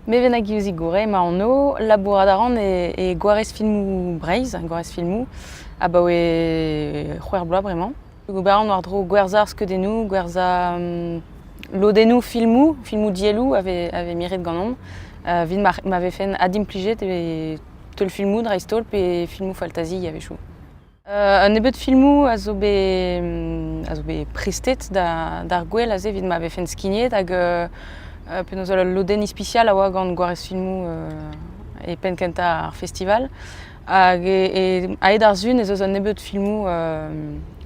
Meven hag Yuzig Gouret emañ anv. Labourat a ran e gwarez filmoù Breizh, gwarez filmoù, abaoe c'hwec'h bloaz bremañ. Ober an war-dro gwerzhañ skeudennoù, gwerzhañ lodennoù filmoù, filmoù dielloù a vez miret ganeomp. Evit ma vefen adimplijet e teulfilmoù dreist-holl pe filmoù faltazi a-wechoù. Un nebeud filmoù a zo bet a zo bet prestet d'ar gwel aze evit ma vefen skignet hag penaos ul lodenn ispisial a oa gant Gwarez Filmoù e penn kentañ ar festival. Hag a-hed ar Sun ez eus un nebeud filmoù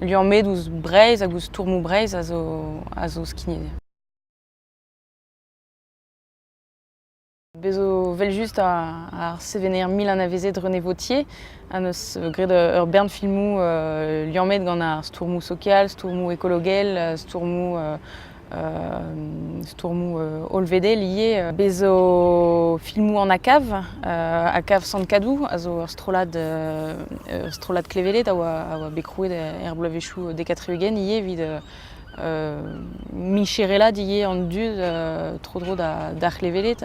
liammet ouzh Breizh hag ouzh stourmoù Breizh a zo a zo skignet. Bez' zo 'vel-just ar sevener mil anavezet René Vautier a 'neus graet ur bern filmoù liammet gant ar stourmoù sokial, stourmoù ekologel, stourmoù stourmoù hollvedel ivez. Bez' zo filmoù an ACAV, ACAV Sant-Kadou a zo ur strollad ur strollad kleveled a oa bet krouet er bloavezhioù dek ha tri-ugent ivez evit micherellat ivez an dud tro-dro d'ar c'hleveled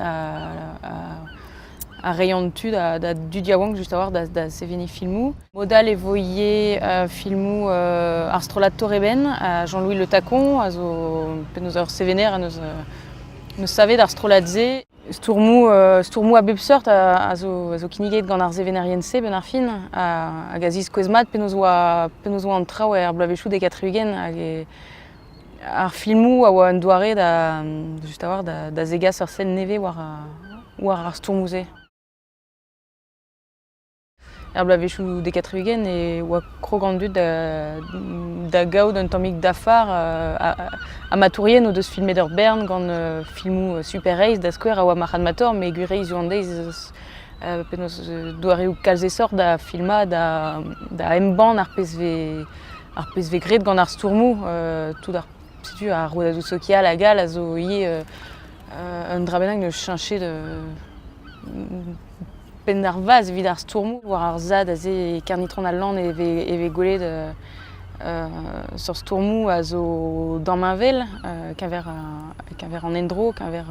a reiñ an tu da dud yaouank just a-walc'h da seveniñ filmoù. Mod all e vo ivez filmoù ar strollad Toreben ha Jean-Louis Le Tacon a zo penaos ur sevener en deus savet ar strollad-se. Stourmoù, stourmoù a bep seurt a zo kinniget gant ar sevenerien-se benn ar fin, hag a ziskouez mat penaos oa an traoù er bloavezhioù dek ha tri-ugent. Hag ar filmoù a oa un doare da just a-walc'h da zegas ur sell nevez war ar stourmoù-se. Er bloavezhioù dek ha tri-ugent e oa krog an dud da gaout un tammig dafar. Amatourien o deus filmet ur bern gant filmoù super-reizh da skouer a oa Marc'had Mator met gwir-reizh zo an deiz penaos doareoù kalz esoc'h da filmañ, da embann ar pezh vez graet gant ar stourmoù. Tout ar setu ar rouedadoù sokial hag all a zo ivez un dra bennak 'neus cheñchet Penn ar vazh evit ar stourmoù war ar sad aze e Kernitron-al-Lann e vez gwelet seurt stourmoù a zo damheñvel keñver an endro, keñver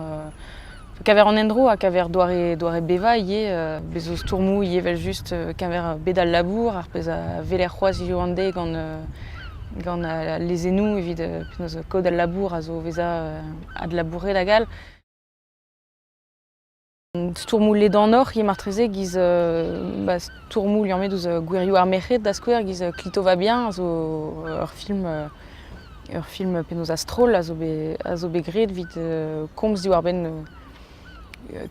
an endro ha keñver doare bevañ ivez. Bez' zo stourmoù ivez evel-just keñver bed al labour, ar pezh a weler c'hoazh hiziv an deiz gant al lezennoù evit penaos kaout al labour a zo o vezañ adlabouret hag all. Stourmoù ledanoc'h eo martreze giz ba stourmoù liammet ouzh gwirioù ar merc'hed da skouer giz Clitová bien zo ur film ur film penaos a-stroll a zo bet a zo bet graet evit komz diwar-benn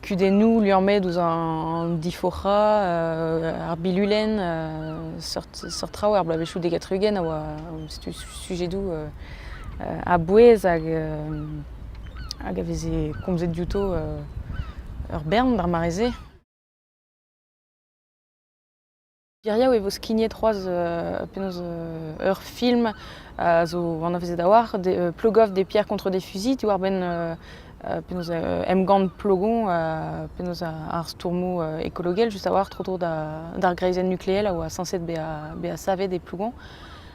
kudennoù liammet ouzh an difoc'hañ ar bilulenn seurt seurt traoù er bloavezhioù dek ha tri-ugent a oa setu sujedoù a-bouez hag hag a veze komzet diouto ur bern d'ar mare-se. Geriaou e vo skignet c'hoazh penaos ur film a zo anavezet a-walc'h, Plogoff des pierres contre des fusils, diwar-benn penaos emgann Plogon, penaos ar stourmoù ekologel, just a-walc'h tro-dro d'ar greizenn nukleel a oa sañset bezañ savet e Plogon.